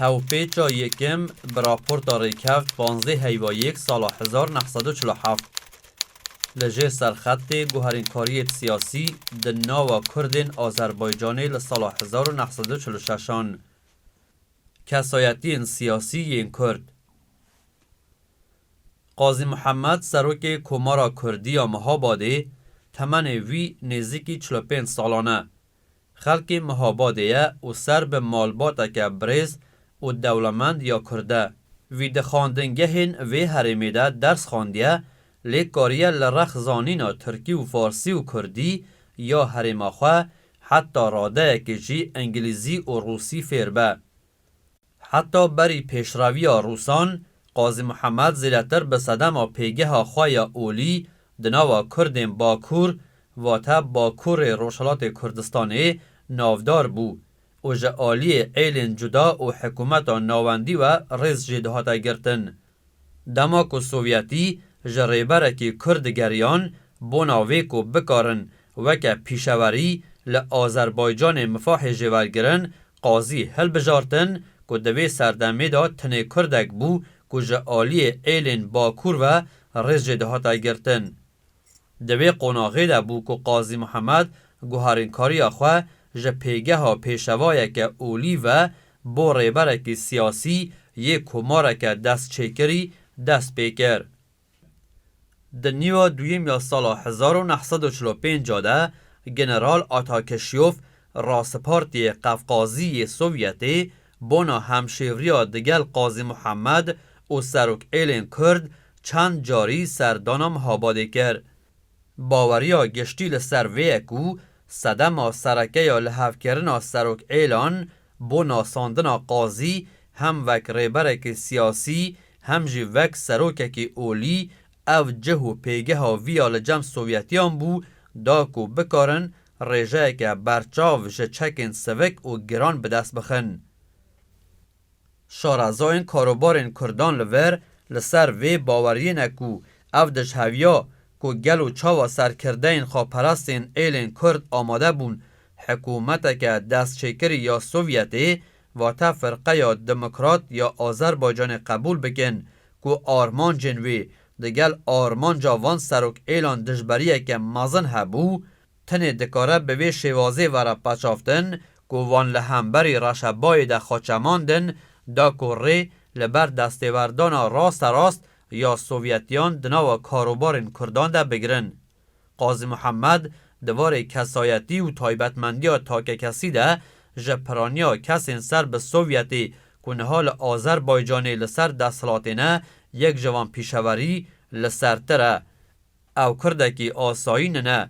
Hevpêça yekem bi raporta rêkevt panzdeh heyva yek sala hezar neh sed û çil û heft li jêr serxetê guherînkariyêt siyasî di nava kurdên Azerbaycanê li sala hezar û neh sed û çil û şeş an kesayetiyên siyasî yên kurd Qazî Muhemed serokê Komara Kurdî ya Mihabadê temenê wî nêzîkî çil û pênc salan e Xelkê Mihabadê ye û ser bi malbateke birêz û dewlemend ya Kurd e. Wî di xwendingehên vê herêmê de ders xwendiye lê kariye li rex zanîna Tirkî û Farsî û Kurdî ya herêma xwe heta radeyekê jî Îngilîzî û Rûsî fêr be. Heta berî pêşreviya Rûsan, Qazî Muhemed zêdetir bi sedema pêgeha xwe ya olî di nava Kurdên Bakur, vate Bakurê Rojhilatê Kurdistanê navdar bû û ji aliyê êlên cuda û hikûmeta navendî we rêz jê dihate girtin. Dema ku Sovyetî ji rêberekî Kurd digeriyan bona vê ku bikarin weke pîşewerî li Azerbaycanê mifahê jêwergirin qazî hilbijartin ku di vê serdemê de tenê Kurdek bû ku ji aliyê êlên Bakur ve rêz jê dihate girtin Di vê qonaxê de bû ku Qazî Mihemed guherînkariya xwe ji pêgeha pêşevayeke olî ve bo rêberekî siyasî yê komareke destçêkirî dest pê kir. Di nîva duyem ya sala hezar û neh sed û çil û pênc de General Atakeşiyof Rasipartiyê Qefqazî yê Sovyetê Bona hemşêvriya digel Qazî Muhammed û Serokêlên Kurd çend carî serdana Mihabadê kir. Baweriya giştî li ser vê ye ku sedema sereke ya lihevkirina Serokêlan bo nasandina Qazî hem wek rêberekî siyasî hem jî wek serokekî olî ev cih û pêgeha vî ya li cem Sovyetiyan bû da ku bikarin rêjeyeke berçav ji çekên sivik û giran bi dest bixin. Şarazoyên karobarên Kurdan li vir li ser vê baweriyê ne ku ev dijheviya ku gel û çawa serkirdeyên xweperestên êlên Kurd amade bûn hikûmeteke destçêkirî ya Sovyetê vate Firqeya Demokrat ya Azerbaycanê qebûl bikin ku armancên wê Digel armanca van serokêlan dijberiyeke mezin hebû, tenê dikare bi vê şêwazê were pecavtin ku van li hemberî reşebayê de xwe çemandin da ku rê li ber destêwerdana rasterast ya Sovyetiyan di nava karobarên Kurdan de bigirin. Qazî Muhemed di varê kesayetî û taybetmendiya takekesî de ji piraniya kesên ser bi Sovyetê ku niha li Azerbaycanê li ser desthilatê ne, yek ji van pîşeverî li sertir e. Ew kurdekî asayîn ne,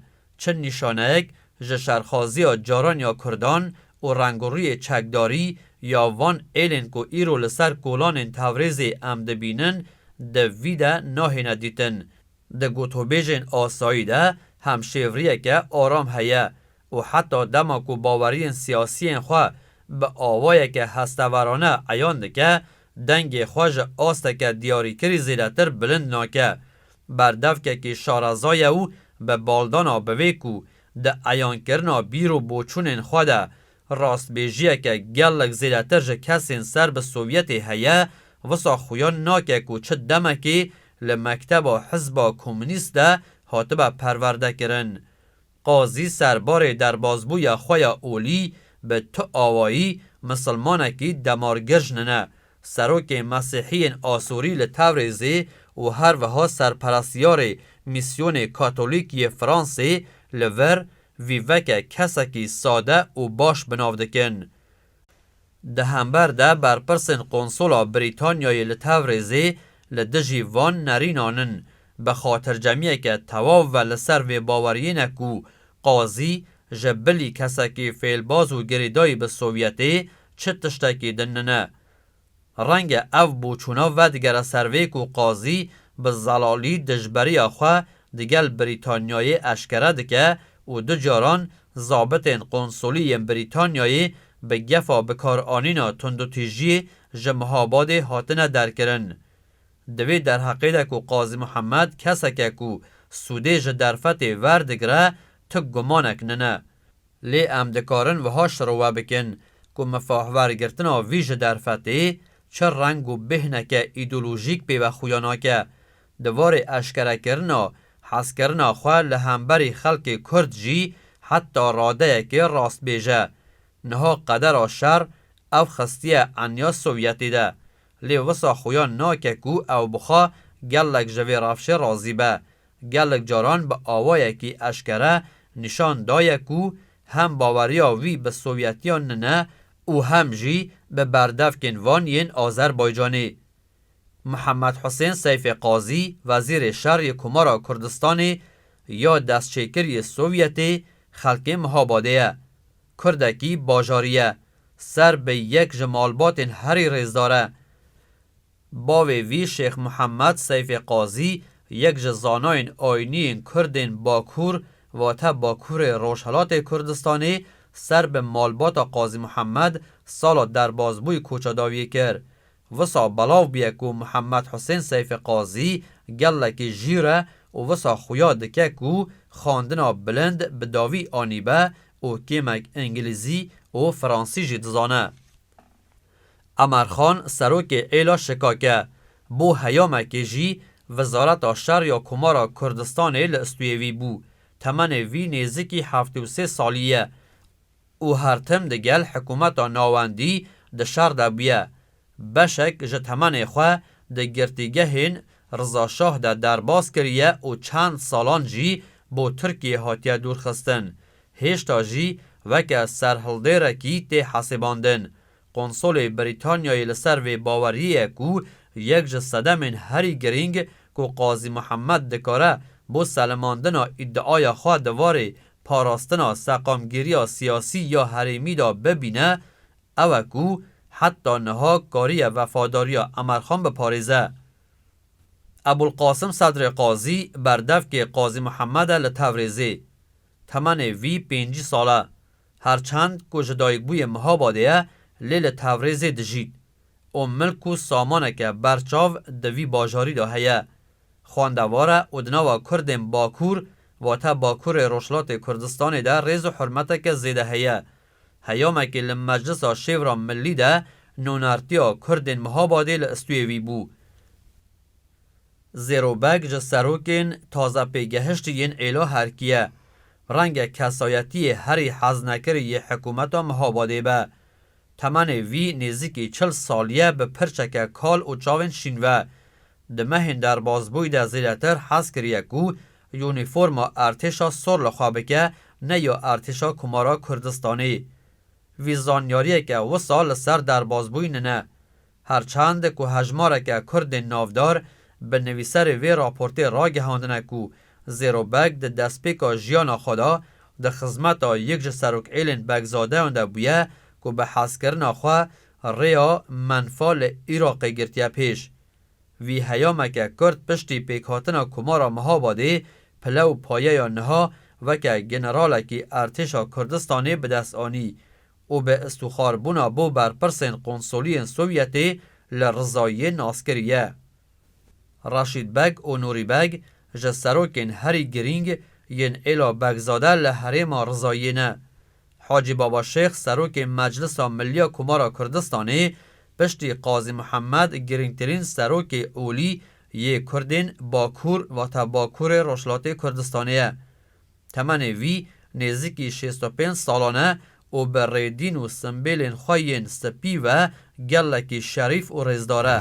çi nîşaneyek ji şerxaziya caran ya kurdan û rengûriyê çekdarî ya van êlên ku îro li ser kolanên Tewrêzê em dibînin di vî de nahêne dîtin. Di gotûbêjên asayî de hemşêvriyeke aram heye û heta dema ku baweriyên siyasiyên xwe bi awayeke hesteverane eyan dike, dengê xwe ji asteke diyarîkirî zêdetir bilind nake. Berdevkekî şareza ye û bi baldana bi vê ku di eyankirina bîr û boçûnên xwe de Rastbêjiyeke gelek zêdetir ji kesên ser bi Sovyetê heye, wisa xuya nake ku çi demekê li mekteba Hizba Komûnîst de hatibe perwerdekirin. Qazî serbarê derbazbûya xwe ya olî bi tu awayî misilmanekî demargir jinine, serokê mesîhiyên Asorî li Tewrêzê û herwiha serperestiyarê mîsyonê katolîk yê Fransê li vir vî veke kesekî sade û baş bi nav dikin. Di hember de berpirsên Qonsola Brîtanyayê li Tevrizê li dijî van nerînan in, bi xatircemiyeke tewav ve li ser vê baweriyê ne ku qazî ji bilî kesekî fêlbaz û girêdayî bi Sovyetê çi tiştekî din nine. Renge ev boçûna vedigere ser vê ku qazî bi zelalî dijberiya xwe digel Brîtanyayê eşkere dike û du caran zabitên qonsolî yên Brîtanyayê bi gefa bikaranîna tundûtîjiyê ji Mihabadê hatine derkirin. Di vê derheqê de ku Qazî Mihemed kesek e ku sûdê ji derfetê verdigre, tu gumanek nine. Lê em dikarin wiha şirove bikin ku mifahwergirtina vî ji derfetê çi reng û bêhneke îdeolojîk pê ve xuya nake. Di varê eşkerekirina hezkirina xwe li hemberî xelkê Kurd jî heta radeyekê rastbêj e. Niha qedera şer ew xistiye enya Sovyetê de. Lê wisa xuya nake ku ew bixa gelek ji vê rewşê razî be. Gelek caran bi awayekî eşkere nîşan daye ku hem baweriya wî bi Sovyetiyan nine û hem jî bi berdevkên van yên Azerbaycanê. Muhammed Husên Seyfê Qazî Wezîrê Şer yê Komara Kurdistanê ya destçêkir yê Sovyetê xelkê Mihabadê ye. Kurdekî bajarî ye. Ser bi yek ji malbatên herî rêzdar e. Bavê vî Şêx Muhammed Seyfê Qazî yek ji zanayên ayîniyên Kurdên Bakur vate Bakurê Rojhelatê Kurdistanê ser bi malbata Qazî Muhammed sala derbazbûyî koçedawiyê kir. Wisa belav bûye ku Muhammed Husên Seyfê Qazî gelekî jîr e û wisa xuya dike ku xwendina bilind bi dawî anîbe û kêmek îngilîzî û fransî jî dizane. Emer Xan serokê êla şikak e. Bo heyamekê jî Wizareta Şer ya Komara Kurdistanê li istûyê wî bû. Temenê wî nêzikî heftê û sê salî ye û her tim di gel hikûmeta navendî di şer de bûye. Beşek ji temenê xwe di girtîgehên Riza Şah de derbas kiriye û çend salan jî bo Tirkiyê hatiye dûrxistin. Hêşta jî weke serhildêrekî tê hesêbandin. Konsolê Brîtanyayê li ser vê baweriyê ye ku yek ji sedemên herî girîng ku Qazî Muhemmed dikare bo selemandina îdiaya xwe di varê parastina seqamgîriya siyasî ya herêmî de bibîne ew e ku heta niha kariye vefadariya Emerxan biparêze. Ebûlqasim Sedrê Qazî berdevkê Qazî Muhemmede li Tevrizê. Temenê vî pêncî sal e. Her çend ku ji dayikbûyê Mihabadê ye lê li Tewrêzê dijît û milk û samaneke ber çav di vî bajarî de heye. Xwendevar e û di nava kurdên Bakur wate Bakurê Rojhilatê Kurdistanê de rêz û hurmeteke zêde heye. Heyamekî li Meclisa Şêwra Millî de nûnertiya kurdên Mihabadê li istûyê wî bû. Zêrobeg ji serokên taze pêgehiştî yên Êlo Herkî ye. Renge kesayetiyê herî heznekirî yê hikûmeta Mihabadê be. Temenê vî nêzîkî çil sal ye bi pirçeke kal û çavên şîn ve. Di mehên derbasbûyî de zêdetir hez kiriye ku unîforma Ertêşa Sor li xwe bike ne ya Ertêşa Komara Kurdistanê. Vî zanyariyeke wisa li ser derbasbûyî nine. Her çend ku hejmareke Kurdên navdar bi nivîserê vê raportê ragihandine ku Zêro Beg di destpêka jiyana xwe de di xizmeta yek ji serokêlên Begzadeyan de bûye ku bi hezkirina xwe rêya menfa li Iraqê girtiye pêş. Vî heyameke Kurd piştî pêkhatina Komara Mihabadê pile û payeya niha weke generalekî Ertêşa Kurdistanê bi dest anî û bi îstixar bûna bo berpirsên qonsoliyên Sovyetê li rizayiyê nas kiriye. Reşîd Beg û Nûrî Beg ji serokên herî girîng yên êla Begzade li herêma rizayiyê ne. Hacî Baba Şêx serokê Meclisa Milliya Komara Kurdistanê piştî Qazî Mihemed girîngtirîn serokê olî yê kurdên Bakur vate Bakurê Rojhilatê Kurdistanê ye. Temenê wî nêzîkî şêst û pênc salan e û bi rê dîn û simbêlên xwe yên spî ve gelekî şerîf û rêzdar e.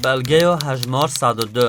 Belgeya hejmar sed û du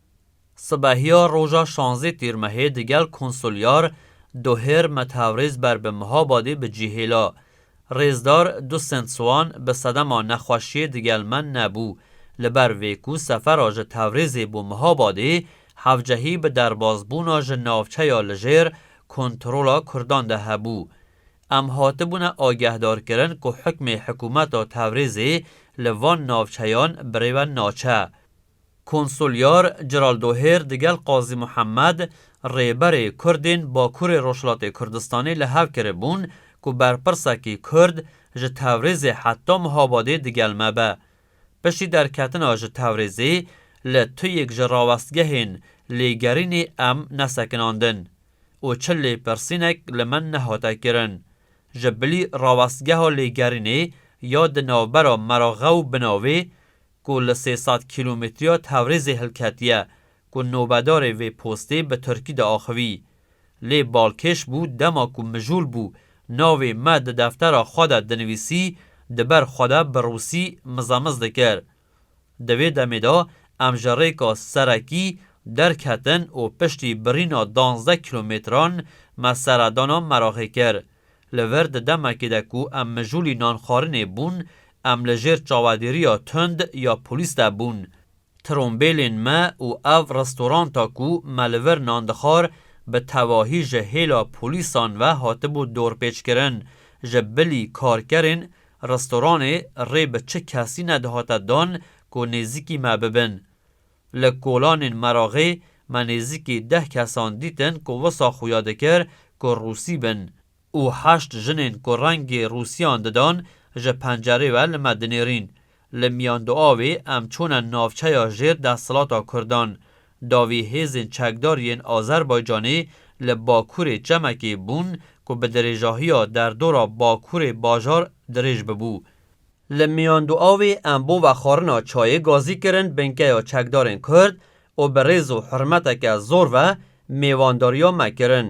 Sibehiya roja şanzê Tîrmehê di gel konsulyar Dohêr Methavrêz ber bi Mihabadê bi cî hêla. Rêzdar Du Sent Soğan bi sedema nexweşiyê di gel me nebû. Li ber vê ku sefera ji Tevrêzê bo Mihabadê hevcehî bi derbazbûna ji navçeya li jêr kontrola Kurdan de hebû. Em hatibûne agehdarkirin ku hukmê hikûmeta Tevrêzê li van navçeyan birêve naçe. Konsulyar Celal Dohêr digel Qazî Muhemed, rêberê Kurdên Bakurê Rojhilatê Kurdistanê li hev kiribûn ku berpirsekî Kurd ji Tewrêzê heta Mihabadê digel me be. Piştî derketina ji Tewrêzê li tuyêk ji rawestgehên lêgerînê em nesekinandin û çi lêpirsînek li min nehate kirin. Ji bilî rawestgeha lêgerînê ya di navbera Meraghe û Binavê ku li sê sed kîlometriya Tewrêzê hilketiye ku nobedarê vê postê bi tirkî diaxivî. Lê balkêş bû dema ku mijûl bû navê me di deftera xwe de dinivîsî di ber xwe de bi rûsî mizemiz dikir. Di vê demê de em ji rêka serekî derketin û piştî birîna danzdeh kîlometran me seredana Meraxê kir. Li vir di demekê de ku em mijûlî nan xwarinê bûn, em li jêr çavedêriya tund ya polîs de bûn. Trombêlên me û ev restoranta ku me li vir nan dixwar bi tevahî ji hêla polîsan ve hatibû dorpêçkirin. Ji bilî karkerên restoranê rê bi çi kesî nedihate dan ku nêzîkî me bibin. Li kolanên Meragê me nêzîkî deh kesan dîtin ku wisa xuya dikir ku Rûsî bin û heşt jinên ku rengê Rûsiyan didan ji pencerê we li me dinêrîn. Li Miyanduavê em çûne navçeya jêr desthilata Kurdan. Davî hêzên çekdar yên Azerbaycanê li Bakurê çemekê bûn ku bi dirêjahiya derdora Bakurê bajar dirêj bibû. Li Miyanduavê em bova xwarina çayê gazî kirin binkeya çekdarên Kurd û bi rêz û hurmeteke zor ve mêwandariya me kirin.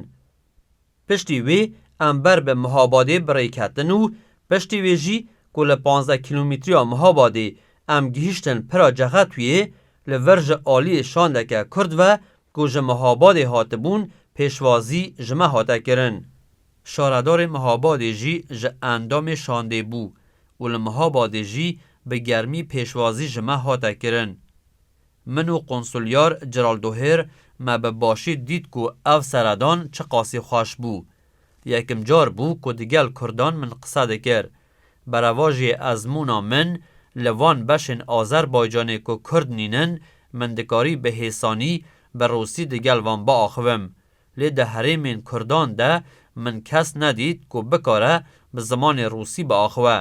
Piştî wê em ber bi Mihabadê bi rê ketin û piştî wê jî ku li panzdeh kîlometriya Mihabadê em gihîştin Pira Cexetuyê, li vir ji aliyê şandeke Kurd ve ku ji Mihabadê hatibûn pêşwazî ji me hate kirin. Şaredarê Mihabadê jî ji endamê şandê bû û li Mihabadê jî bi germî pêşwazî ji me hate kirin. Min û Konsulyar Ciral Dohêr me bi başî dît ku ev seredan çiqasî xweş bû. Yekim car bû ku digel Kurdan min qise dikir. Berevajiyê ezmûna min li van beşên Azerbaycanê ku Kurd nînin, min dikarî bi hêsanî, bi rûsî digel van biaxivim. Lê di herêmên kurdan de min kes nedît ku bikare bi zimanê rûsî biaxive.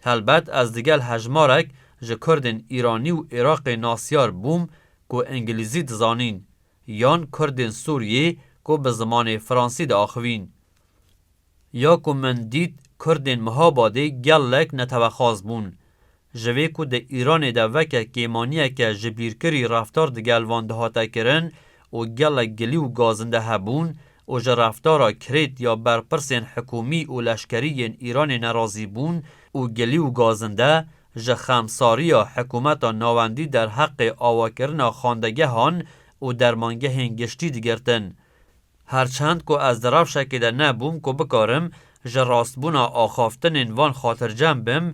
Helbet ez digel hejmarek ji kurdên Îranî û Iraqê nasyar bûm ku îngilîzî dizanîn, yan kurdên Sûriyê ku bi zimanê fransî diaxivîn. Ya ku min dît Kurdên Mihabadê gelek netewexwaz bûn. Ji vê ku di Îranê de veke kêmaniyeke jibîrkirî reftar di gel van dihate kirin û gelek gilî û gazinde hebûn û ji reftara kirêt ya berpirsên hikûmî û leşkerî yên Îranê nerazî bûn û gilî û gazinde ji xemsariya hikûmeta navendî derheqê awakirina xandegehan û dermangehên giştî digirtin. Her çend ku ez di rewşekê de nebûm ku bikarim ji rastbûna axaftinên van xatircem bim,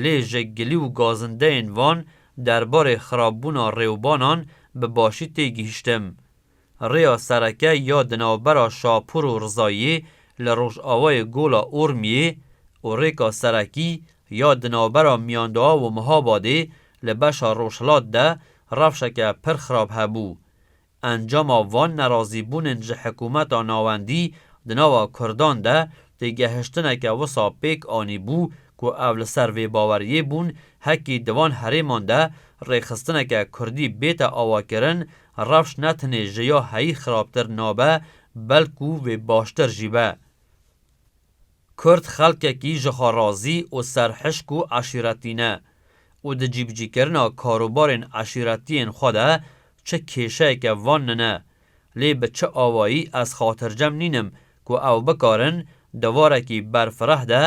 lê ji gilî û gazindeyên van derbarê xirabûna rêwbanan bi başî tê gihîştim. Rêya sereke ya di navbera Şapûr û Rizayê li rojavayê Gola Urmiyê û rêka serekî ya di navbera Miyanduav û Mihabadê li beşa rojhilat de rewşeke pir xirab hebû. Encama van nerazîbûnên ji hikumeta navendî di nava kurdan de têgehiştineke wisa pêk anîbû ku ev li ser vê baweriyê bûn hekî di van herêman de rêxistineke kurdî bête avakirin rewş ne tenê ji ya heyî xirabtir nabe belkû vê baştir jî be. Kurd xelkekî jixwerazî û serhişk û eşîretî ne û di cîbicîkirina karûbarên eşîretiyên xwe de çi kêşeyeke van nine. Lê bi çi awayî ez xatircem nînim ku ew bikarin di varekî berfireh de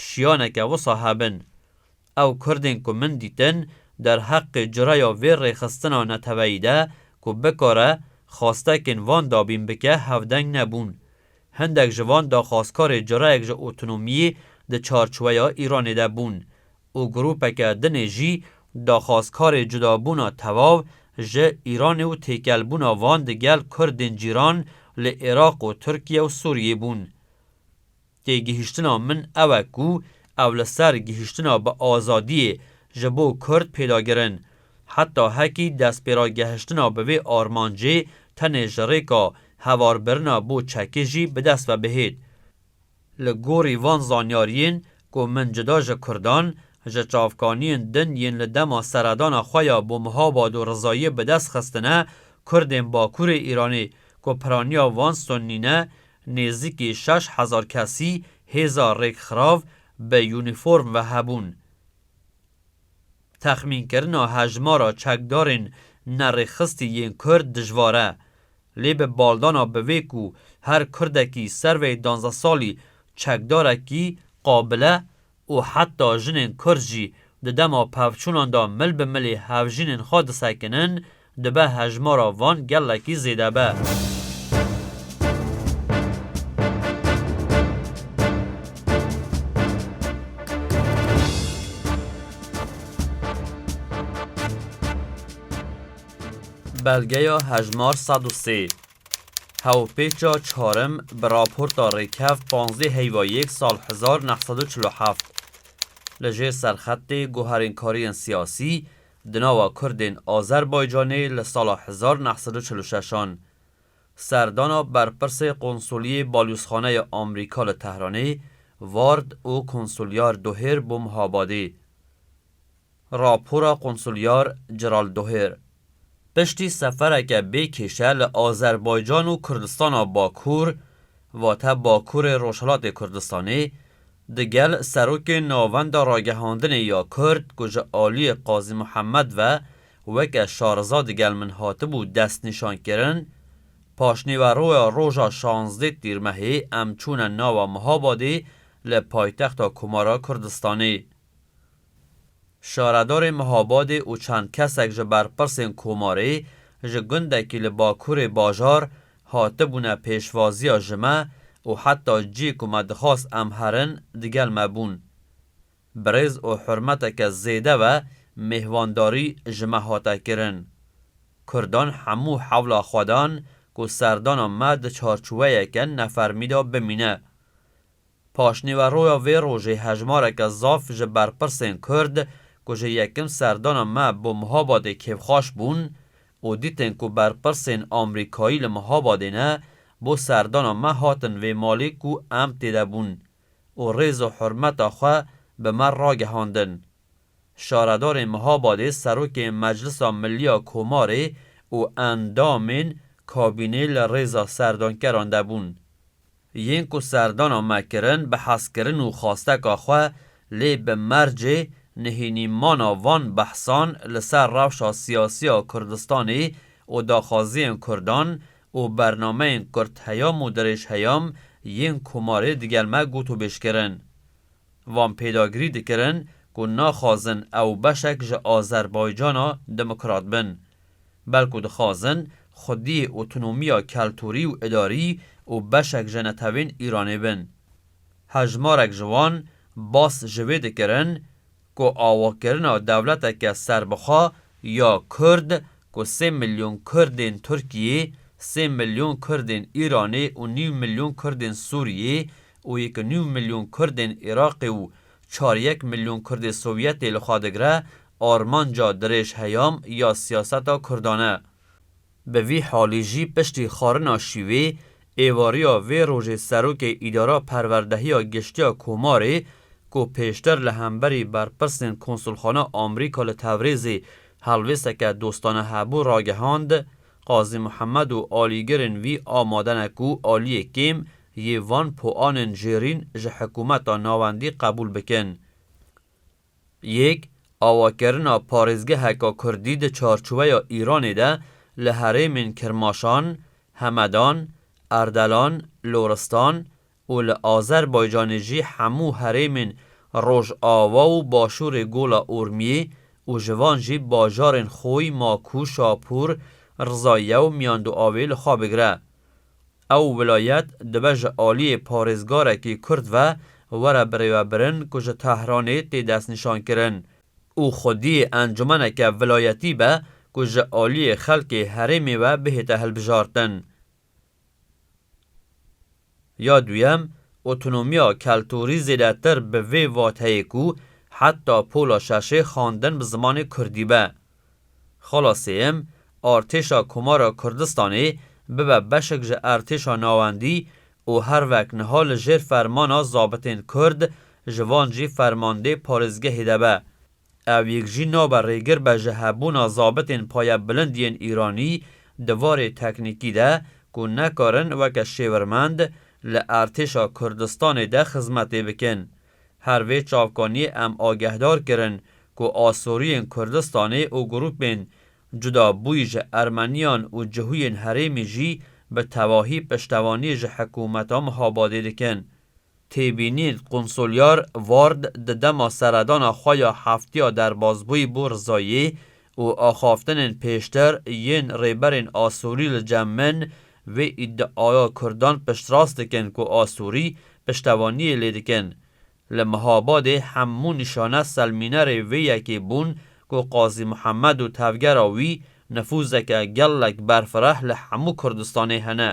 şiyaneke wisa hebin? Ew Kurdên ku min dîtin derheqê cureya vê rêxistina neteweyî de ku bikare xwastekên van dabîn bike hevdeng nebûn. Hindek ji van daxwazkarê cureyek ji otonomiyê di çarçweya Îranê de bûn û grûpeke dinê jî daxwazkarê cudabûna tevav ji Îranê û têkelbûna van di gel Kurdên cîran li Iraq û Tirkiye û Sûriyê bûn. Têgihiştina min ew e ku ew li ser gihiştina bi azadiyê ji bo Kurd pêdagir in. Heta hekî destpêragehiştina bi vê armancê tenê ji rêka hevarbirina bo çekî jî bi dest ve bihêt. Li gorî van zanyariyên ku min cuda ji Kurdan, ji çavkaniyên din yên li dema seredana xwe ya bo Muhabad û Rizayiyê bi dest xistine, Kurdên Bakurê Îranê ku piraniya van Sunnî ne, Nêzîkî şeş hezar kesî hêza rêkxirav bi unîform ve hebûn. Texmînkirina hejmara çekdarên nerêxistî yên Kurd dijwar e. Lê bi baldana bi vê ku her Kurdekî ser vê danzeh salî çekdarekî qabile û heta jinên kurd jî di dema pevçûnan de mil bi milî hevjînên xwe disekinin, dibe hejmara van gelekî zêde be. Belgeya hejmar sed û sê. Hevpêça çarim bi raporta rêkevt panzdeh heyva yek sal hezar neh sed û çil û heft li jêr serxetê guherînkariyên siyasî di nava Kurdên Azerbaycanê li sala hezar neh sed û çil û şeş an serdana berpirsê qonsuliyê balûzxaneya Amrîka li Tehranê, Vard û konsulyar Dohêr Bomhabadê. Rapora Konsulyar Ceral Doher, piştî sefereke bê kêşe li Azerbaycan û Kurdistana Bakur, vate Bakurê Rojhilatê Kurdistanê, di gel Serokê Navenda Ragihandinê ya Kurd ku ji aliyê Qazî Muhemed ve weke şariza di gel min hatibû destnîşan kirin, Paşnîweroya roja şazdê Tîrmehê em çûne nawa Mihabadê li paytexta Komara Kurdistanê. Şaredarê Mihabadê û çend kesek ji berpirsên Komarê ji gundekî li bakurê bajar hatibûne pêşvaziya ji me û heta cî ku me dixwast em herin digel me bûn. Bi rêz û hurmeteke zêde ve mêhwandarî ji me hate kirin. Kurdan hemû hewla xwe dan ku serdana me di çarçûweyeke nefermî de bimîne. Paşnîveroya vê rojê hejmareke zaf ji berpirsên Kurd ku ji yekim serdana me bo Mihabadê kêfxweş bûn û dîtin ku berpirsên Amrîkayî li Mihabadê ne, bo serdana me hatin vê malê ku em tê de bûn û rêz û hurmeta xwe bi me ragihandin. Şaredarên Mihabadê Serokê Meclisa Milî ya Komarê û endamên kabînê li rêza serdankeran de bûn. Yên ku serdana me kirin bi hezkirin û xwasteka xwe, lê bi mercê nihênîmana van behsan li ser rewşa siyasî ya Kurdistanê û daxwaziyên Kurdan û bernameyên kurtheyam û dirêjheyam yên komarê digel me gotûbêj kirin. Van pêdagirî dikirin ku naxwazin ew beşek ji Azerbaycana demokrat bin. belku dixwazin xwedî otonomiya keltûrî û idarî û beşek ji netewên Îranê bin. Hejmarek ji wan bas ji vê dikirin ku awakirina dewleteke serbixwe ya Kurd ku sê milyon Kurdên Tirkiyê, sê milyon Kurdên Îranê û nîv milyon Kurdên Sûriyê û yek û nîv milyon Kurdên Iraqê û Çar yek milyon kurdê sovyetê li xwe digire armanca dirêj heyam ya siyaseta kurdan e. Bi vî halî jî piştî xwarina şîvê, êvariya vê rojê serokê îdara perwerdehiya giştiya Komarê ku pêştir li hemberî berpirsên konsulxana Amrîka li Tevrizê helwêsteke dostane hebû ragihand, Qazî Muhemed û alîgirên vî amade ne ku aliyê kêm yê van poanên jêrîn ji hikumeta navendî qebûl bikin. Yek, awakirina parêzgeheka kurdî di çarçoweya Îranê de li herêmên Kirmaşan, Hemedan, Erdelan, Loristan û li Azerbaycanê jî hemû herêmên Rojava û Başûrê Gola Urmiyê û ji van jî bajarên Xoy, Maku, Şapûr, Rizaye û Miyandoavê li xwe bigire. Ew welayet dibe ji aliyê parêzgarekî Kurd ve were birêvebirin ku ji Tehranê tê destnîşankirin û xwedî encûmeneke vilayetî be ku ji aliyê xelkê herêmê ve bihête hilbijartin. Ya duyem, otonomiya keltûrî zêdetir bi vê vateyê ku heta pola şeşê xwendin bi zimanê Kurdî be. Xala sêyem, Artêşa Komara Kurdistanê bibe beşek ji Artêşa Navendî û her wek niha li jêr fermana zabitên Kurd ji van jî fermandê parêzgehê de be. Ew yek jî nabe rêgir be ji hebûna zabitên payebilind yên Îranî di varê teknîkî de ku nekarin weke şêwirmend li Artêşa Kurdistanê de xizmetê bikin. Her vê çavkaniyê em agehdar kirin ku Asoriyên Kurdistanê û grûpên cuda bûyî ji Ermeniyan û cihûyên herêmî jî bi tevahî piştevaniyê ji hikûmeta Mihabadê dikin. Têbînîn, Qunsulyar Ward di dema seredana xwe ya heftiya derbazbûyî bû Rizayê û axaftinên pêştir yên rêberên Asorî li cem min Vê îdiaya Kurdan piştrast dikin ku Asûrî piştevaniyê lê dikin. Li Mihabadê hemû nîşane selmînerê vê yekê bûn ku Qazî Mihemed û tevgera wî nifûzeke gelek berfireh li hemû Kurdistanê hene.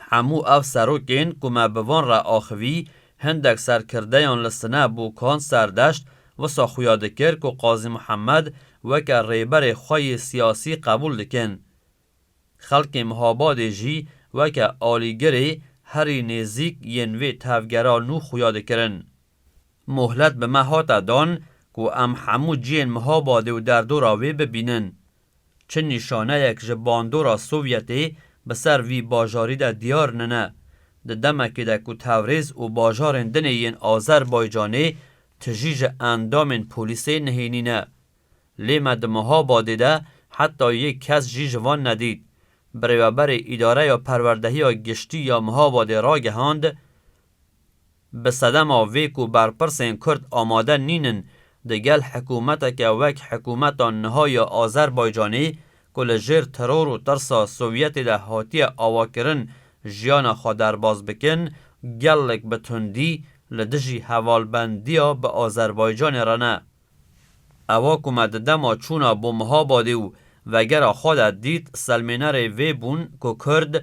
Hemû ev serokên ku me bi van re axivî, hindek serkirdeyan li sine Bokan Serdeşt wisa xuya dikir ku Qazî Mihemed weke rêberê xwe yê siyasî qebûl dikin. Xelkê Mihabadê jî weke alîgirê herî nêzîk yên vê tevgera nû xuya dikirin. Mohlet bi me hate dan ku em hemû cihên Mihabadê û derdora wê bibînin. Çi nîşaneyek ji bandora Sovyetê bi ser vî bajarî de diyar nine, di demekê de ku Tewrêz û bajarên dinê yên Azerbaycanê tijî ji endamên polîsê nihênîne, Lê me di meha badê de heta yek kes jî ji van nedît. Birêveberê Îdareya Perwerdehiya Giştî ya Mihabadê ragehand, Bi sedema vê ku berpirsên Kurd amade nînin di gel hikûmeteke wek hikûmeta niha ya Azerbaycanê ku li jêr teror û tirsa Sovyetê de hatiye avakirin jiyana xwe derbas bikin, gelek bi tundî li dijî hevalbendiya bi Azerbaycanê re ne. Ewa ku me di dema çûna bo Mihabadê û vegera xwe de dît selmênerê vê bûn ku Kurd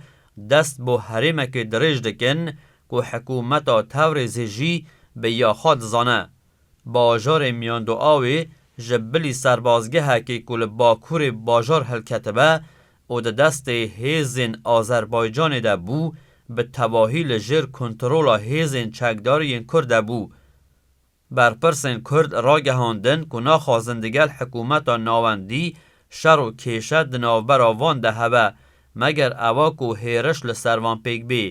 dest bo herêmekê dirêj dikin ku hikûmeta Tewrêzê jî bi ya xwe dizane. Bajarê Miyandoawê ji bilî serbazgehekê ku li bakurê bajar hilketibe û di destê hêzên Azerbaycanê de bû bi tevahî li jêr kontrola hêzên çekdariyên Kurd de bû. Berpirsên Kurd ragihandin ku naxwazin digel hikûmeta navendî şer û kêşe di navbera van de hebe, meger ewa ku hêriş li ser van pêk bê.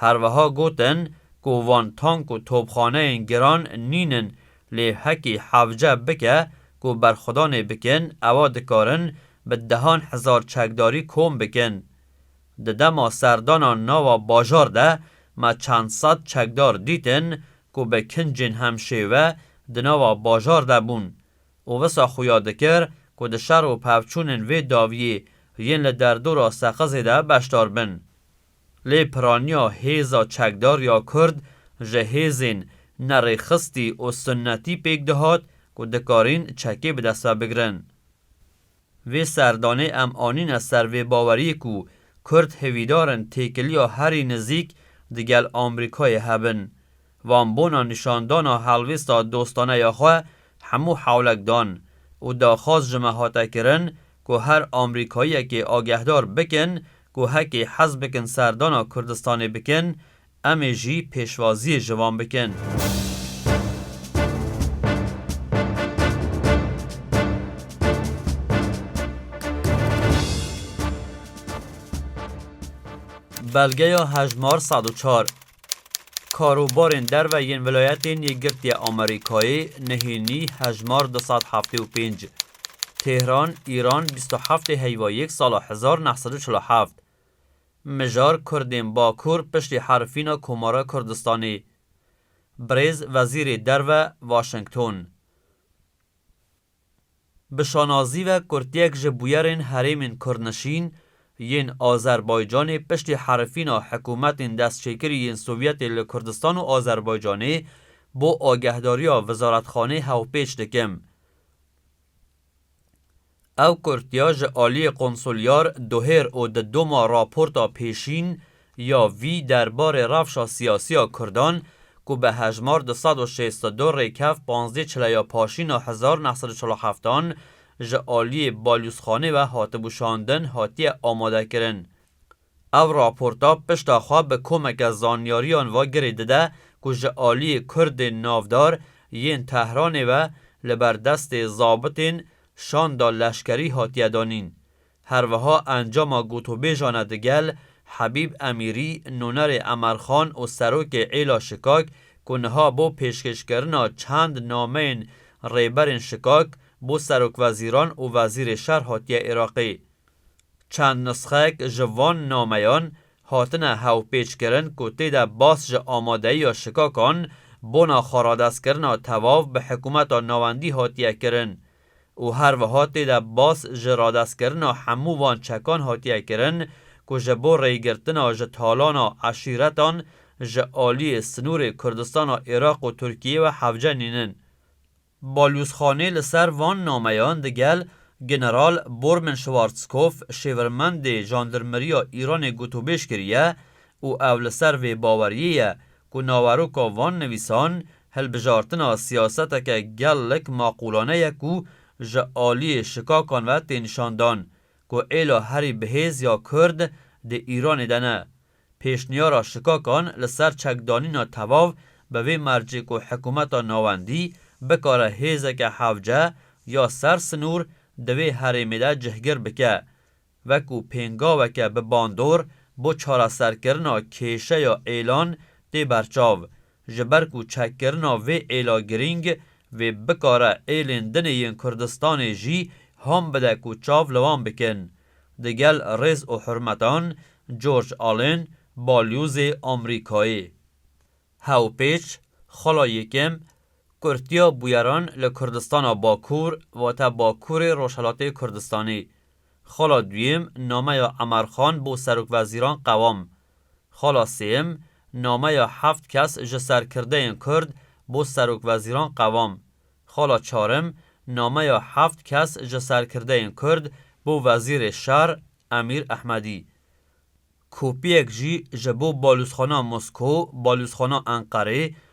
Her wiha gotin ku van tank û topxaneyên giran nîn in, lê hekî hevce bike ku berxwedanê bikin ewa dikarin bi dehan hezar çekdarî kom bikin. Di dema serdana nava bajar de me çend sed çekdar dîtin ku bi kincên hemşêwe di nava bajar de bûn û wisa xuya dikir ku di şer û pevçûnên vê daviyê yên li derdora Seqizê de beşdar bin. Lê piraniya hêza çekdar ya Kurd ji hêzên nerêxistî û sunnetî pêk dihat ku dikarîn çekê bi dest ve bigirin. Vê serdanê em anîne ser vê baweriyê ku Kurd hêvîdar in têkiliya herî nizîk digel Amrîkayê hebin. Van bona nîşandana helwêsta dostane ya xwe hemû hewlek dan û daxwaz ji me hate kirin ku her Amrîkayiyekê agehdar bikin ku hekê hez bikin serdana Kurdistanê bikin Em ê jî pêşwaziyê ji wan bikin. Belgeya hejmar sed û çar Karûbarên derve yên Vilayetên Yekgirtiya Amerîkayê, nihênî hejmar du sed heftê û pênc Tehran, Îran, bîst û heftê Heywa yek sala hezar neh sed û çil û heft, Mijar Kurdên Bakur piştî herifîna Komara Kurdistanê, Birêz Wezîrê Derve Waşington bi şanazî ve kurtiyek ji bûyerên herêmên kurdnişîn yên Azerbaycanê piştî herifîna hikûmetên destçêkirî yên Sovyetê li Kurdistan û Azerbaycanê bo agehdariya Wizaretxanê hevpêç dikim. Ew kurtiya ji aliyê konsulyar Dohêr û di doma raporta pêşîn ya vî derbarê rewşa siyasî ya kurdan ku bi hejmar du sed û şêst û du rêkev panzdeh çileya paşîna hezar neh sed û çil û heft an ji aliyê balyûzxanê ve hatibû şandin hatiye amadekirin Ev raporta pişta xwe bi komeke zanyariyan ve girê dide ku ji aliyê Kurdên navdar yên Tehranê ve li ber destê zabitên şanda leşkerî hatiye danîn. Her wiha encama gotûbêjane di gel Hebîb Emîrî, nonerê Emer Xan û serokê Êla Şikak ku niha bo pêşkêşkirina çend nameyên rêberên Şikak bo serokwezîran û vezîrê şer hatiye Iraqê, Çend nisxek ji van nameyan hatine hevpêçkirin ku tê de bas ji amadeyiya şikakan bona xweradestkirina tevav bi hikûmeta navendî hatiye kirin û her wiha tê de bas ji radestkirina hemû van çekan hatiye kirin ku ji bo rêgirtina ji talana eşîretan ji aliyê sinûrê Kurdistana Iraq û Tirkiyê ve hevcenînin. Balûzxanê li ser van nameyan di gel General Bormen Schwarzkopf Şêvirmendê Jandirmeriya Îranê gotûbêj kiriye û ew li ser vê baweriyê ye ku naweroka van nivîsan hilbijartina siyaseteke gelek maqûlane ye ku ji aliyê şikakan ve tê nîşandan ku êla herî bihêz ya Kurd di Îranê de ne Pêşniyara şikakan li ser çekdanîna tevav bi vê mercê ku hikumeta navendî bikare hêzeke hevce ya ser sinûr di vê herêmê de cihgir bike wekû pêngaveke bi bandor bo çareserkirina kêşeya êlan tê berçav ji ber ku çekkirina vê êla girîng vê bikare êlên dinê yên Kurdistanê jî ham bide ku çav li wan bikin. Di gel rêz û hurmetan George Allen, Balyozê Amrîkayê. Hewpêç, Xala Yekem, Kurtiya bûyeran li Kurdistana Bakur vate Bakurê Rojhelatê Kurdistanê. Xala Duyêm nameya Emerxan bo Serokvezîran qewam. Xala sêyim, nameya heft kes ji serkirdeyên Kurd bo serokwezîran qevam. Xala çarim, nameya heft kes ji serkirdeyên Kurd bo wezîrê şer Emîr Ehmedî. Kopyek jî ji bo balûzxana Moskow, balûzxana Enqerê,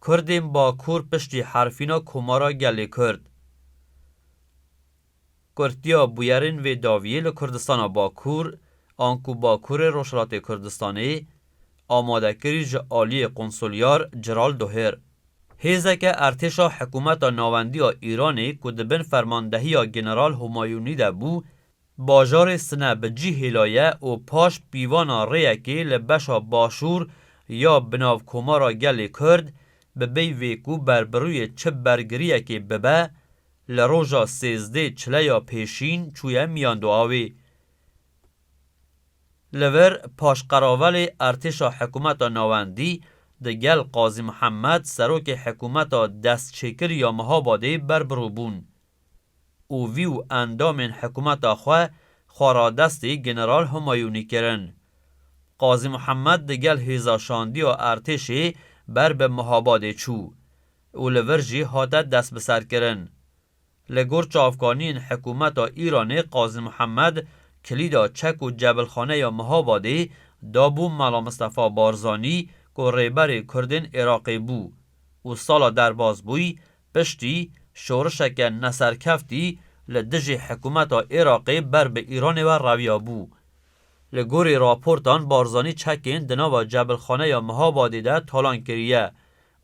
Kurdên Bakur piştî herfîna Komara Gelê Kurd, kurtiya bûyerên vê daviyê li Kurdistana Bakur an ku Bakurê Rojhilatê Kurdistanê amade kirî ji aliyê Konsulyar Ciral Dohir. Hêzeke ertêşa Hikûmeta Nawendiya Îranê ku di bin fermandehiya General Humayûnî de bû Bajarê Sine bi cî hêlaye û paş pîvana rêyekê li beşa başûr ya bi nav Komara Gelê Kurd bi bêy vê ku berbirûyê çi bergiriyekê bibe, li roja sêzdê çileya pêşîn çûye miyan du awê. Li vir paşqeravelê Ertêşa Hikûmeta Navendî di gel Qazî Mihemed serokê hikûmeta destçêkir ya Mihabadê berbirû bûn. û vî û endamên hikumeta xwe xwe radestî General Humayûnî kirin. Qazî Muhemed di gel hêza şandiya ertêşê ber bi Muhabadê çû û li vir jî hate destbiserkirin. Li gor çavkaniyên hikumeta Îranê Qazî Muhemed kilîda çek û cebilxaneya Muhabadê da bû Mela Mistefa Barzanî ku rêberê kurdên Iraqê bû û sala derbas bûy Piştî şorişeke neserkeftî li dijî hikûmeta Iraqê ber bi Îranê ve reviya bû. Li gorî raportan Barzanî çekên di nava Cebilxaneya Mihabadê de talan kiriye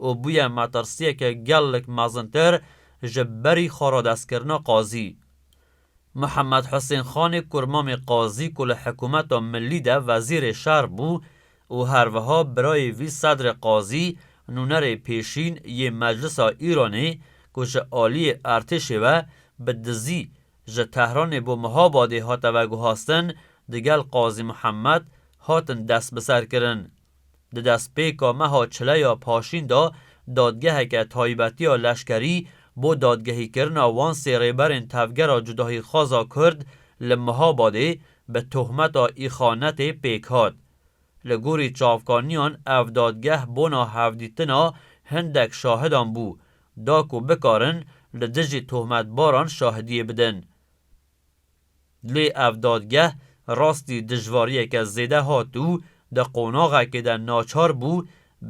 û bûye metirsiyeke gelek mezintir ji berî xwe radestkirina qazî. Mihemed Husên Xanê ku Mamê Qazî ku li Hikûmeta Milî de Wezîrê Şer bû û her wiha birayê vî Sedrê Qazî, nûnerê pêşîn yê Meclisa Îranê ku ji aliyê Ertêşê ve bi dizî ji Tehranê bo Mihabadê hate veguhastin, digel Qazî Mihemed hatin destbiserkirin. Di destpêka meha çile ya paşîn de dadgeheke taybetî ya leşkerî bo dadgehîkirina wan sê rêberên tevgera cudahîxwaza kurd li Mihabadê bi tohmeta îxanetê pêk hat. Li gorî çavkaniyan ev dadgeh bona hevdîtina hindek şahidan bû da ku bikarin li dijî tohmetbaran şahidiyê bidin. Lê ev dadgeh rastî dijwariyeke zêde hat û di qonaxekê de naçar bû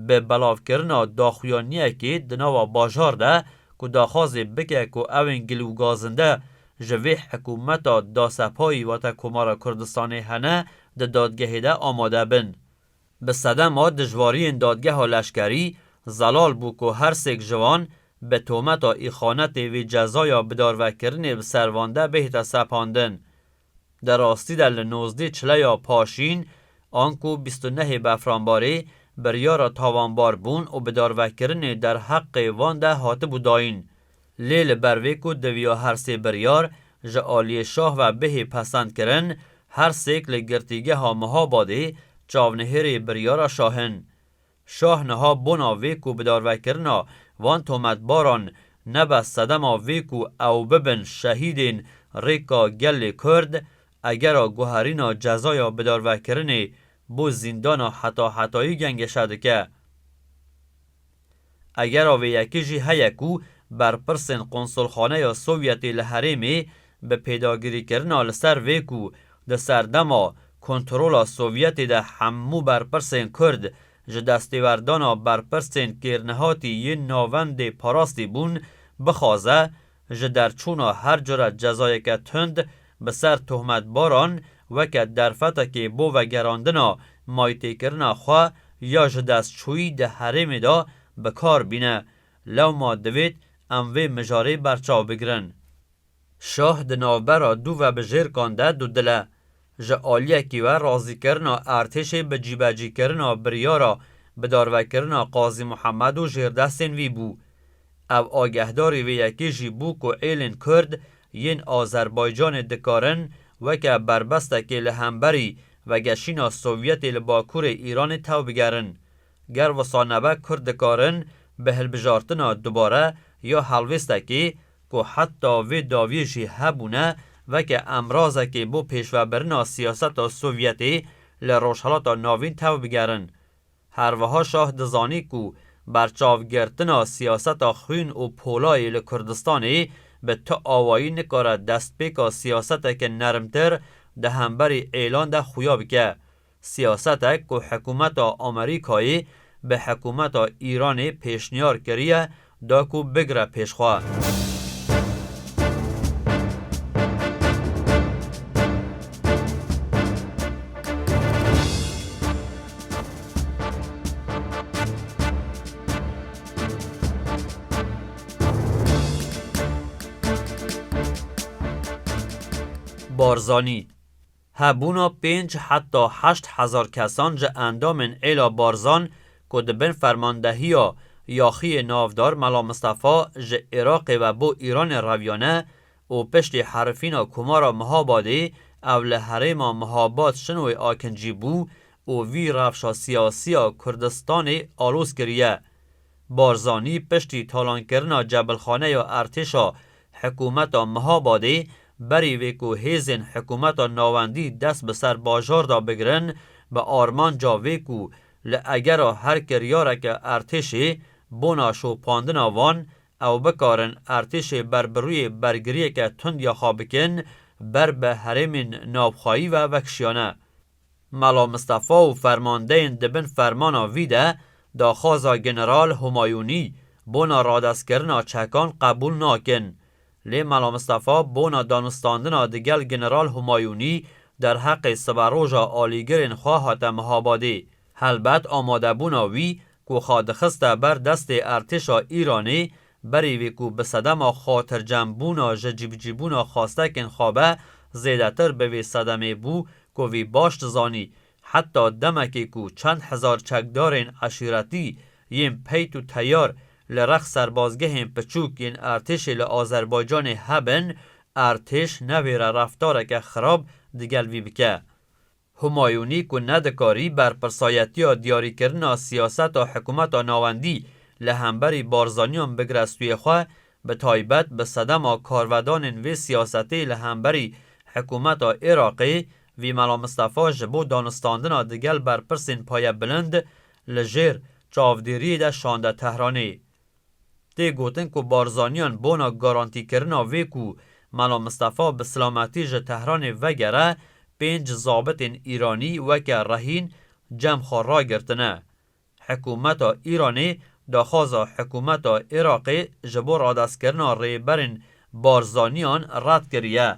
bi belavkirina daxuyaniyekê di nava bajar de ku daxwazê bike ku ewên gilûgazinde ji vê hikûmeta dasepayî wate Komara Kurdistanê hene di dadgehê de amade bin. Bi sedema dijwariyên dadgeha leşkerî zelal bû ku her sêk ji wan bi tometa îxanetê vê cezaya bidarvekirinê bi ser van de bihête sepandin. Di rastî de li nozdê çileya Paşîn anku bîst û nehê Befranbarê biryara tawanbarbûn û bidarvekirinê derheqê van de hatibû dayîn. Lê li ber vê ku diviya her sê biryar ji aliyê şah ve bihê pesend kirin, her sêk li Girtîgeha Mihabadê çavnihêrê biryara şah in. Şah niha bona vê ku bidarvekirina van tometbaran nebe sedema vê ku ew bibin şehîdên rêka gelê Kurd, egera guherîna cezaya bidarvekirinê bo zîndana hetahetayî gengeşe dike. Egera vê yekê jî heye ku berpirsên Qonsolxaneya Sovyetê li herêmê bi pêdagirîkirina li ser vê ku di serdema kontrola Sovyetê de hemû berpirsên Kurd ji destêwerdana berpirsên kêrnehatî yên navendê parastî bûn, bixwaze Ji derçûna her cure cezayeke tund bi ser tohmetbaran weke derfetekê bo vegerandina maytêkirina xwe ya ji destçûyî di herêmê de bi kar bîne. Lewma divêt em vê mijarê berçav bigirin. Şah di navbera du vebijêrkan de dudile. Ji aliyekî ve razîkirina Artêşê bi cîbecîkirina biryara bidarvekirina Qazî Muhemed û jêrdestên wî bû. Ew agehdarî vê yekê jî bû ku êlên Kurd yên Azerbaycanê dikarin weke berbestekê li hemberî vegeşîna Sovyetê li Bakurê Îranê tew bigerin. Ger wisa nebe Kurd dikarin bi hilbijartina dubare ya helwêstekê ku heta vê dawiyê jî hebûne weke emrazekê bo pêşvebirina siyaseta Sovyetê li Rojhilata Navîn tev bigerin. Her wiha şah dizanî ku berçavgirtina siyaseta xwîn û polayê li Kurdistanê bi tu awayî nikare destpêka siyaseteke nermtir di hemberî êlan de xuya bike. Siyasetek ku hikûmeta Amerîkayê bi hikûmeta Îranê pêşniyar kiriye da ku bigire pêş xwe. Barzanî, Hebûna pênc heta heşt hezar kesan ji endamên Êla Barzan ku di bin fermandehiya Yaxiyê Navdar Mela Mistefa ji Iraqê ve bo Îranê reviyane û piştî herifîna Komara Mihabadê ew li herêma Mihabad-Şinowê Akinci bû û vî rewşa siyasî ya Kurdistanê alozkiriye Barzanî piştî talankirina cebilxaneya Ertêşa Hikûmeta Mihabadê berî vê ku hêzên Hikûmeta Navendî dest bi ser bajar de bigirin bi armanca vê ku li egera her kiryareke Ertêşê bona şopandina wan ew bikarin Ertêşê ber bi rûyê bergiriyeke tund ya xwe bikin ber bi herêmên navxweyî ve vekişiyane. Melo Mistefa û fermandeyên di bin fermana vî de daxwaza General Humayûnî bona radestkirina çekan qebûl nakin. Lê Melo Mistefa bona danûstandina di gel General Humayûnî derheqê siberoja alîgirên xwe hate Mihabadê. Helbet amadebûna wî ku xwe dixiste ber destê ertêşa Îranê Berî vê ku bi sedema xatircembûna ji cîbicîbûna xwastekên xwe be, zêdetir bi vê sedemê bû ku vî baş dizanî, heta demekê ku çend hezar çekdarên eşîretî yên peyt û teyar li rex serbazgehên piçûk yên Ertêşê li Azerbaycanê hebin, Ertêş nevêre reftareke xirab digel vî bike. Humayunî ku nedikarî berpirsayetiya diyarîkirina siyaseta hikumeta navendî li hemberî Barzaniyan bigire stûyê xwe, bi taybet bi sedema karvedanên vê siyasetê li hemberî hikumeta Iraqê, vî Mela Mistefa ji bo danûstandina digel berpirsên payebilind li jêr çavdêriyê de şande Tehranê. Tê gotin ku Barzaniyan bona garantîkirina vê ku Mela Mistefa bi silametî ji Tehranê vegere, pênc zabitên Îranî weke rehîn cem xwe ragirtine. Hikûmeta Îranê daxwaza hikûmeta Iraqê ji bo radestkirina Rêberên Barzaniyan red kiriye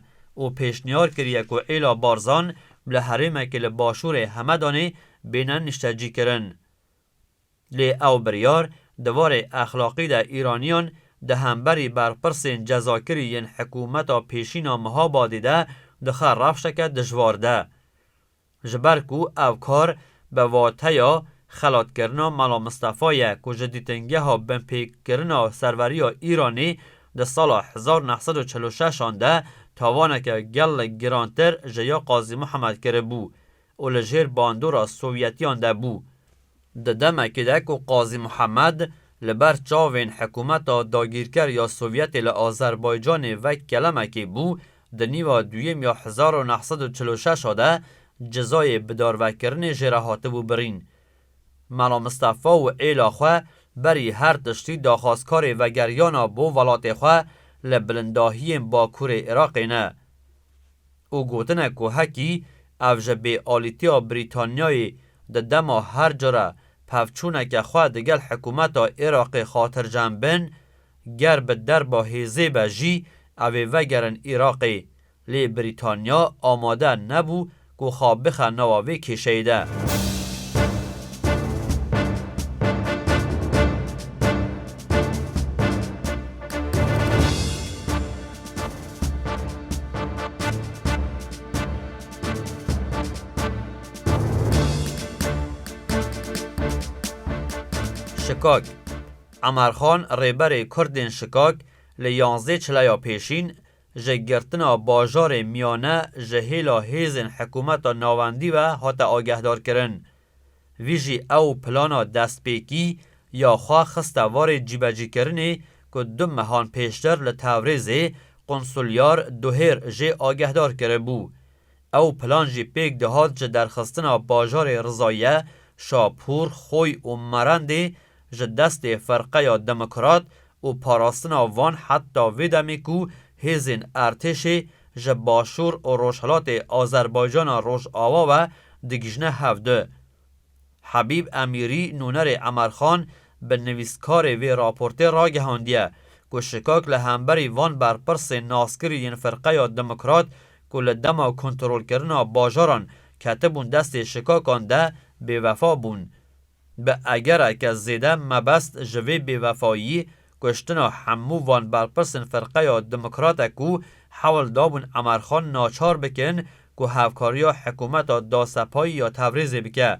û pêşniyar kiriye ku êla Barzan li herêmekî li başûrê Hemedanê bêne niştecîkirin. Lê ew biryar di varê exlaqî de Îraniyan di hemberî berpirsên cezakirî yên hikûmeta pêşîn a Mihabadê de dixe rewşeke dijwar de. Ji ber ku ev kar bi wateya xelatkirina Mela Mistefa ye ku ji dîtingeha binpêkirina serweriya Îranê di sala hezar neh sed û çil û şeş an de tawaneke gelek girantir ji ya Qazî Mihemed kiribû, û li jêr bandora Sovyetiyan de bû. Di demekê de ku Qazî Muhemed li ber çavên hikûmeta dagîrker ya Sovyetê li Azerbaycanê vek kelemekê bû, di nîva duyêm ya hezar û neh sed û çil û şeş a de cezayê bidarvekirinê jê re hatibû birîn. Mela Mistefa û êla xwe berî her tiştî daxwazkarê vegeriyana bo welatê xwe li bilindahiyên Bakurê Iraqê ne. û gotine ku hekî ev ji bêalîtiya Brîtanyayê di dema her cure pevçûneke xwe digel hikûmeta Iraqê xatircem bin, ger bi derba hêzê be jî ev ê vegerin Iraqê, lê Brîtanya amade nebû Ku xwe bixe newa vê kêşeyê de. Şikak, Emerxan rêberê kurdên Şikak li yanzdê çileya pêşîn Ji girtina bajarê miyane ji hêla hêzên hikûmeta navendî ve hate agehdarkirin. Vî jî ew plana destpêkî ya xwe xiste varê cîbecîkirinê ku du mehan pêştir li Tewrêzê Qonsulyar Duhêr jê agehdar kiribû. Ew plan jî pêk dihat ji derxistina bajarê Rizaye, Şapûr, Xoy û Merendê ji destê Firqeya Demokrat û parastina van heta vê demê ku hêzên Ertêşê ji başûr û rojhilatê Azerbaycana Rojawa we digihîjne hev di. Hebîb Emîrî nûnerê Emer Xan bi nivîskarê vê raportê ragihandiye ku şikak li hemberî van berpirsên naskirî yên Firqeya Demokrat ku li dema kontrolkirina bajaran ketibûn destê şikakan de bêwefa bûn Bi egereke zêde mebest ji vê bêvefayî kuştina hemû van berpirsên firqeya demokrate ku hewl dabûn Emer Xan naçar bikin ku hevkariya hikûmeta Dasepayî ya Tevrêzê bike.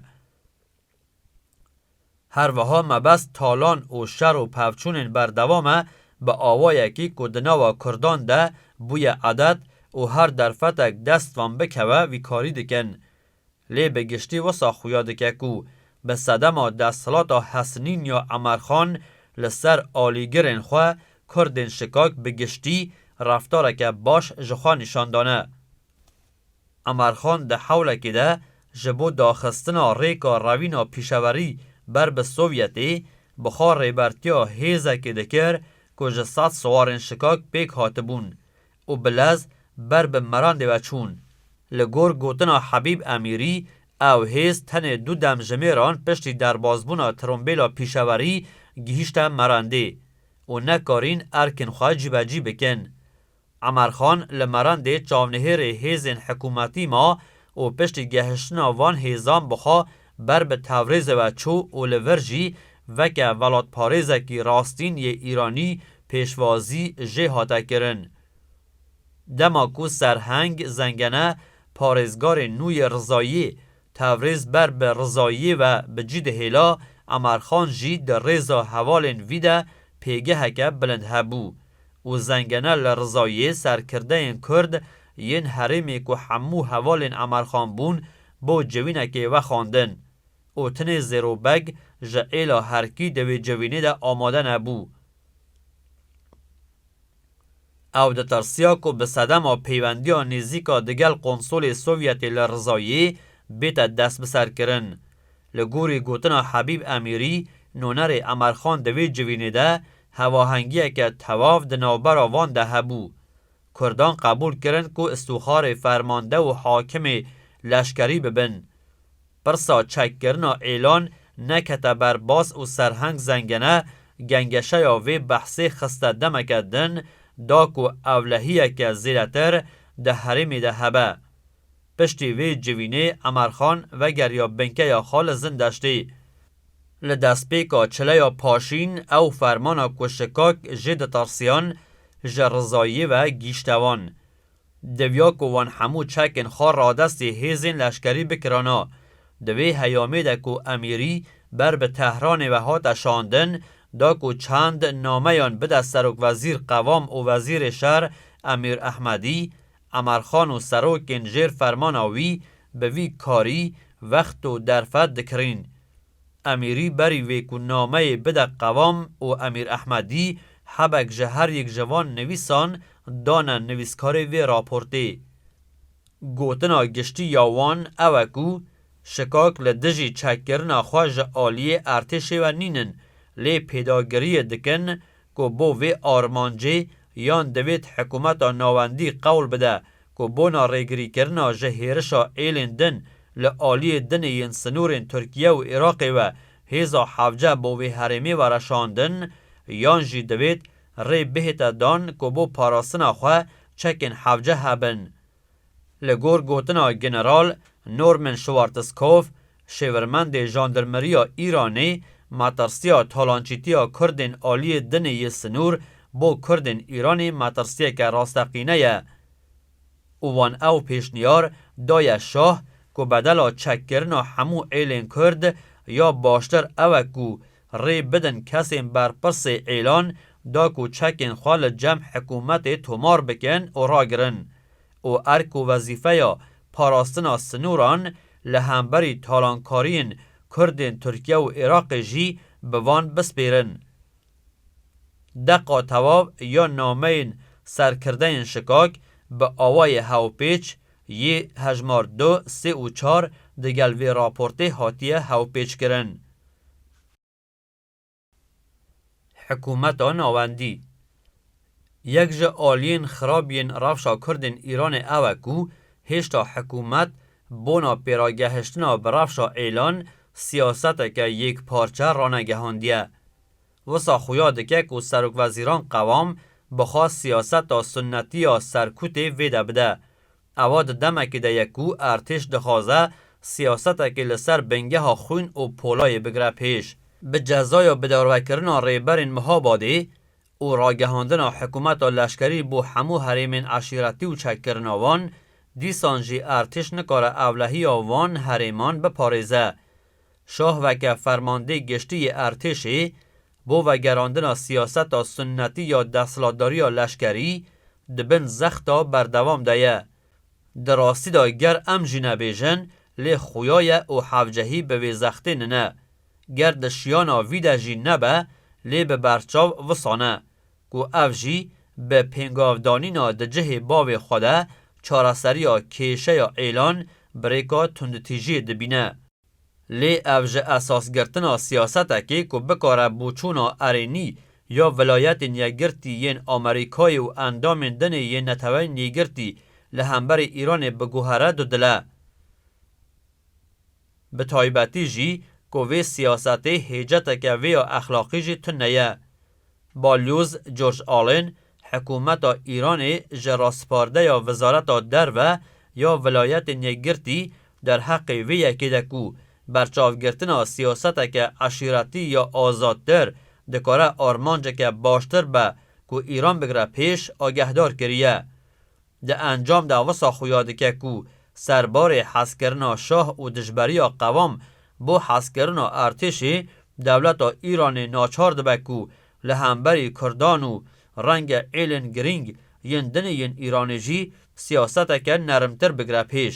Her wiha mebest talan û şer û pevçûnên berdewam e bi awayekî ku di nava kurdan de bûye adet û her derfetek dest van bikeve vî karî dikin. Lê bi giştî wisa xuya dike ku bi sedema desthilata hesnîn ya Emer Xan li ser alîgirên xwe Kurdên Şikak bi giştî reftareke baş ji xwe nîşan dane. Emer Xan di hewlekê de ji bo daxistina rêka rewîna pîşewerî ber bi Sovyetê bi xwe rêbertiya hêzekê dikir ku ji sed siwarên Şikak pêk hatibûn û bi lez ber bi merandê ve çûn. Li gor gotina Habîb Emîrî, ew hêz tenê du demjimêran piştî derbasbûna trombêla pîşewerî gihîşte merandê û nekarîn erkên xwe cîbecî bikin. Emer Xan li merandê çavnihêrê hêzên hikûmetî ma û piştî gehiştina van hêzan bi xwe ber bi tevrêzê ve çû û li vir jî veke velatparêzekî rastîn yê Îranî pêşwazî jê hate kirin. Dema ku Serheng Zengene parêzgarê nû yê Rizayî tevrêz ber bi Rizayî ve bi cî dihêla, Emerxan jî di rêza hevalên vî de pêgeheke bilind hebû û Zengene li Rizayî serkirdeyên Kurd yên herêmê ku hemû hevalên Emerxan bûn bo civînekê vexwandin û tinê Zêro Beg ji êla herkî di wê civînê de amade nebû. Ew ditirsiya ku bi sedema peywendiya nêzîk a digel Konsolê Sovyetê li Rizayê bête destbiserkirin. Li gorî gotina Hebîb Emîrî, nonerê Emerxan di wê civînê de hevahengiyeke tewav di navbera van de hebû. Kurdan qebûl kirin ku îstixarê fermande û hakimê leşkerî bibin. Pirsa çekkirina Êlan nekete ber baz û Serheng Zengene gengeşeya vê behsê xiste demeke din da ku ewlehiyeke zêdetir di herêmê de hebe. Piştî vê civînê Emerxan vegeriya binkeya xwe li Zindeştê. Li destpêka çileya paşîn ew fermana ku Şikak jê ditirsiyan ji Rizayiyê ve gihîşte wan. Diviya ku wan hemû çekên xwe radestê hêzên leşkerî bikirana. Di vê heyamê de ku Emîrî ber bi Tehranê ve hate şandin, da ku çend nameyan bide Serokwezîr Qevam û Wezîrê Şer Emîr Ehmedî, Emarxan û serokên jêr fermana wî bi vî karî wext û derfet dikirîn. Emîrî berî vê ku nameyê bide qevam û Emîr Ehmedî hebek ji her yek ji van nivîsan dane nivîskarê vê raportê. Gotina giştî ya wan ew e ku şikak li dijî çekkirina xwe ji aliyê ertêşê ve nînin lê pêdagiriyê dikin ku bo vê armancê yan divêt hikûmeta navendî qewl bide ku bona rêgirîkirina ji hêrişa êlên din li aliyê dinê yên sinûrên Tirkiye û Iraqê ve hêza hevce bo vê herêmê were şandin yan jî divêt rê bihête dan ku bo parastina xwe çekên hevce hebin. Li gor gotina General Norman Schwarzkopf, şêwirmendê jandarmeriya Îranê, metirsiya talançîtiya Kurdên aliyê dinê yê sinûr bo Kurdên Îranê metirsiyeke rasteqîne ye û wan ew pêşniyar daye şah ku bedela çekkirina hemû êlên Kurd ya baştir ew e ku rê bidin kesên berpirsê îlan da ku çekên xwe li cem hikûmetê tomar bikin û ragirin û erk û wezîfeya parastina sinûran li hemberî talankariyên Kurdên Tirkiye û Iraqê jî bi van bispêrin. Deqa tewav ya nameyên serkirdeyên şikak bi awayê hewpêç yê hejmar du, sê û çar digel vê raportê hatiye hewpêçkirin. Hikûmeta navendî, Yek ji aliyên xirab yên rewşa Kurd ên Îranê ew e ku hêşta hikûmet bona pêragehiştina bi rewşa êlan siyaseteke yekparçe ranegehandiye. Wisa xuya dike ku Serokwezîran Qewam bixwe siyaseta sunnetî ya serkûtê vêde bide Ewa di demekê de ye ku Êrtêş dixwaze siyasetekê li ser bingeha xwîn û polayê bigire pêş. Bi cezaya bidarvekirina rêberên Mihabadê û ragihandina hikûmeta leşkerî bo hemû herêmên eşîretî û çekkirina wan, dîsan jî Êrtêş nikare ewlehiya van herêman biparêze. Şah weke fermandê giştî yê Êrtêşê, Bo vegerandina siyaseta sunnetî ya desthilatdariya leşkerî di bin zexta berdewam de ye. Di rastî de ger em jî nebêjin lê xuya ye û hevcehî bi vê zextê nine. Ger di şiyana vî de jî nebe lê bi berçav wisa ne ku ev jî bi pêngavdanîna di cihê bavê xwe de çareseriya kêşeya êlan birêka tundtîjiyê dibîne. Lê ev ji esasgirtina siyasetekê ku bikare bûçûna erênî ya Vilayetên Yekgirtî yên Amerîkayê û endamên dinê yên Neteweyên Yekgirtî li hemberî Îranê biguhere du dil e. Bi taybetî jî ku vê siyasetê hêceteke vê ya exlaqî jî tune ye. Balyoz George Allen, Hikûmeta Îranê ji raspardeya Wizareta Derve ya Vilayetên Yekgirtî derheqê vê yekê de ku berçavgirtina siyaseteke eşîretî ya azadtir dikare armanceke baştir be ku Îran bigire pêş, agehdar kiriye. Di encam de wisa xuya dike ku serbarê hezkirina şah û dijberiya qewam bo hezkirina ertêşê, dewleta Îranê naçar dibe ku li hemberî kurdan û renge êlên girîng yên dinê yên Îranê jî siyaseteke nermtir bigire pêş.